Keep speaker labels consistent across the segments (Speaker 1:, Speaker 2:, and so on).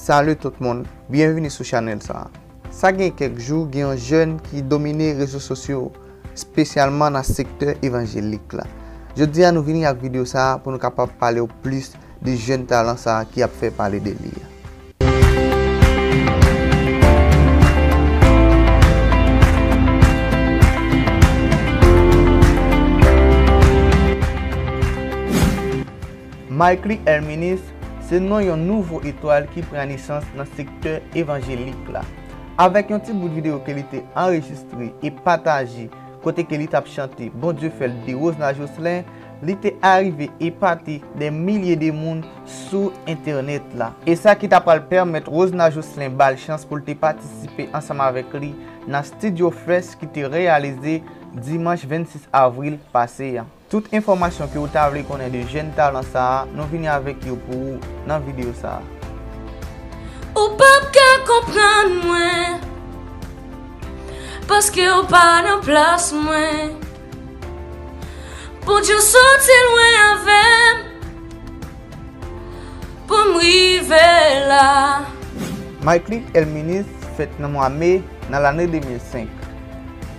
Speaker 1: Salut tout moun, byenvini sou chanèl sa. Sa gen kèk jou gen yon jèn ki domine rezo sosyo spesyalman nan sektè evanjelik la. Jodi a nou vini ak video sa pou nou kapab palew plis de jèn talan sa ki ap fè pale de li a. Mickley Herminis se non yon nouvo etwal ki pran nesans nan sektè evanjelik la. Avèk yon ti bout videyo ke li te anrejistre e pataje kote ke li t ap chante Bondye fè l de Rosna Jocelyn, li te arive epate dè milye de moun sou entènèt la. E sa ki ta pral pèmèt Rosna Jocelyn ba l chans pou l te patisipe ansanm avèk li nan Studio Fest ki te reyalize dimanch 26 avril pase an. Tout enfòmasyon ke ou ta vle konnen de jèn talan sa a, nou vini avèk yo pou ou nan videyo sa a.
Speaker 2: Ou pap ka konprann mwen Paske ou pa nan plas mwen Pou di w soti lwen avè m Pou m rive la. Mickley
Speaker 1: Elminus fèt nan mwa me nan lane 2005.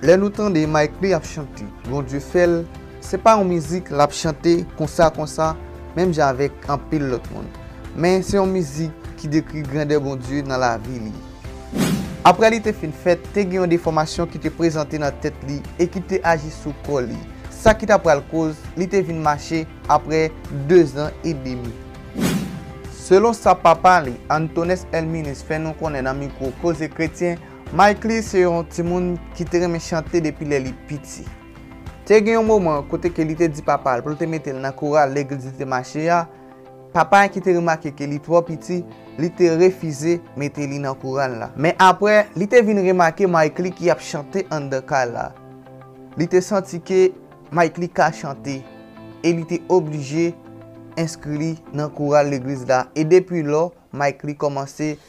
Speaker 1: Lè nou tande Mickley ap chante Bondye fè l, se pa yon mizik l ap chante konsa konsa menm jan avèk anpil lòt moun, men se yon mizik ki dekri grandè Bondye nan lavi li. Aprè li te fin fèt, te gen yon defòmasyon ki te prezante nan tèt li e ki te aji sou kò li, sa ki ta pral koz li te vin mache aprè dezan edemi. Selon sa papa li, Antones Elminis fè nou konnen nan mikwo Koze Kretyen, Mickley se yon timoun ki te renmen chante depi lè li piti. Te gen yon moman kote ke li te di papa l pou l te mete l nan koral legliz li te mache a, papa a ki te remake ke li twò piti, li te refize mete li nan koral la. Men apre, li te vin remake Mickley ki ap chante anndan kay la. Li te santi ke Mickley ka chante e li te oblije enskri li nan koral legliz la e depi lò Mickley kòmanse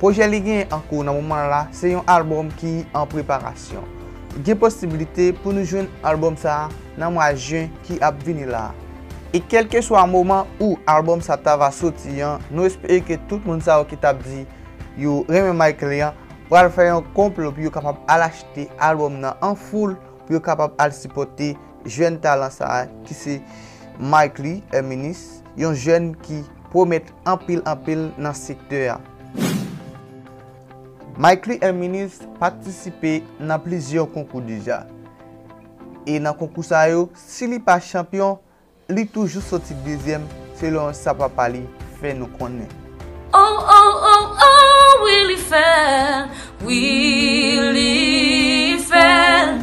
Speaker 1: Pwojè li genyen an kou nan moman la se yon albòm ki an preparasyon. Gen posibilite pou nou jwenn albòm sa nan mwa jen ki ap vini la. E kèlkeswa moman ou albòm sa ta va soti an nou espere ke tout moun sa yo ki tap di yo renmen Mickley an pral fè yon konplo pou yo kapab al achte albòm nan an foul pou yo kapab al sipòte jèn talan sa ki se Mickley Herminus yon jèn ki pwomèt anpil anpil nan sektè a. Mickley Herminus patisipe nan plizyè konkou deja. E nan konkou sa yo, si li pa chanpyon, li toujou soti dezyèm selon sa papa li fè nou konnen. Oh
Speaker 2: oh oh oh wi li fèl, wi li fèl.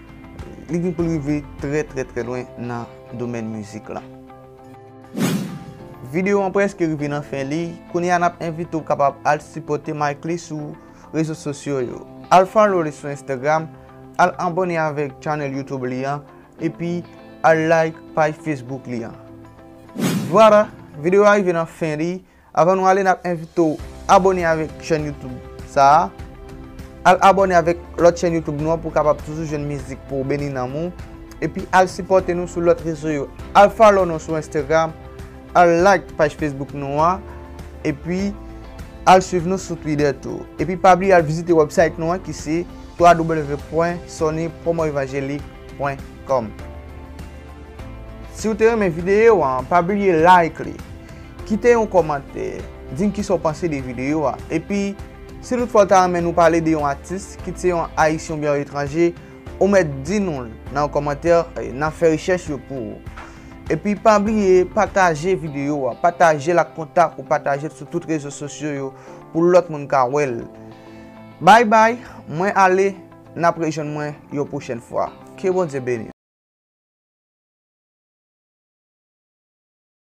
Speaker 1: Li gen pou l rive trè trè trè lwen nan domèn mizik lan. Videyo an preske rive nan fen li, kounye a n ap envite w kapab al sipòte Mickley sou rezo sosyo yo. Al follow li sou Instagram, al abone avèk channel YouTube li an, epi al like paj Facebook li an. Voila! Videyo a rive nan fen li, Avan nou ale nap envite w abone avèk chèn youtube sa a, al abone avèk lòt chèn youtube nou an pou w kapab toujou jwenn mizik pou w beni nanm ou, epi al sipòte nou sou lòt rezo yo, al follow nou sou Instagram, al like paj Facebook nou an, epi al swiv nou sou Twitter tou. Epi pa bliye al vizite website nou an ki se www.sonypromoevangelique.com Si w te renmen video an, pa bliye like li. Kite yon kòmantè, di n kisa w panse de videyo a. Epi, si tout fwa w ta renmen nou pale de yon atis, kit se yon Ayisyen oubyen yon etranje, ou mèt di nou l nan yon kòmantè, n ap fè rechèch yo pou ou. Epi, pa bliye pataje videyo a, pataje l ak kontak ou, pataje l sou tout rezo sosyo yo pou lòt moun ka wè l. Bay bay, mwen ale, n ap rejwenn mwen yon pwochèn fwa. Ke Bondye beni nou.